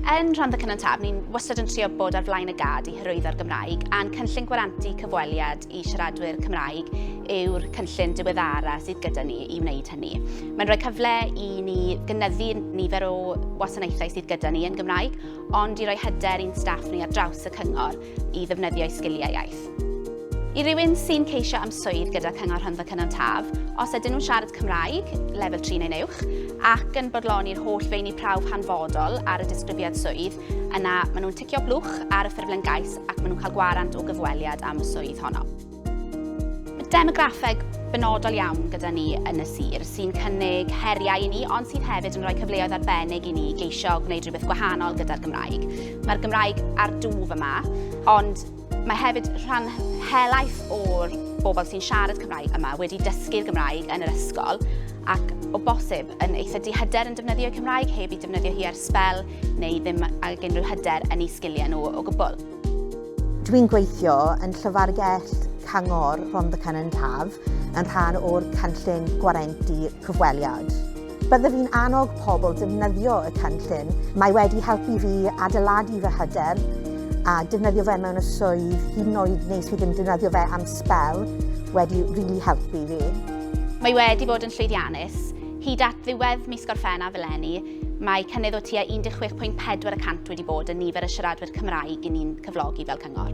Yn Rhondda Cynon Taf, ni'n wastad yn trio bod ar flaen y gad i hyrwyddo'r Gymraeg, a'n cynllun gwarantu cyfweliad i siaradwyr Cymraeg yw'r cynllun diweddara sydd gyda ni i wneud hynny. Mae'n rhoi cyfle i ni gynyddu nifer o wasanaethau sydd gyda ni yn Gymraeg, ond i roi hyder i'n staff ni ar draws y cyngor, i ddefnyddio'u sgiliau iaith. I rywun sy'n ceisio am swydd gyda Cyngor Rhondda Cynon Taf, os ydyn nhw'n siarad Cymraeg, lefel 3 neu'n uwch, ac yn bodloni'r holl feini prawf hanfodol ar y disgrifiad swydd, yna maen nhw'n ticio blwch ar y ffurflen gais ac maen nhw'n cael gwarant o gyfweliad am y swydd honno. Demograffeg benodol iawn gyda ni yn y sir sy'n cynnig heriau i ni ond sydd hefyd yn rhoi cyfleoedd arbennig i ni geisio gwneud rhywbeth gwahanol gyda'r Gymraeg. Mae'r Gymraeg ar dwf yma ond mae hefyd rhan helaeth o'r bobl sy'n siarad Cymraeg yma wedi dysgu'r Gymraeg yn yr ysgol ac o bosib yn eitha dihyder yn defnyddio Cymraeg heb i defnyddio hi ar sbel neu ddim ag unrhyw hyder yn ei sgiliau nhw o gwbl. Dwi'n gweithio yn Llyfrgell Cyngor Rhondda Cynon Taf yn rhan o'r Cynllun Gwarenti Cyfweliad. Byddaf i'n annog pobl defnyddio y cynllun. Mae wedi helpu fi adeiladu fy hyder a defnyddio fe mewn y swydd, hyd yn oed nes fi ddim defnyddio fe am sbel, wedi rili helpu fi. Mae wedi bod yn llwyddiannus. Hyd at ddiwedd mis Gorffennaf eleni, Mae cynnydd o tua 16.4 y cant wedi bod yn nifer y siaradwyr Cymraeg i ni'n cyflogi fel cyngor.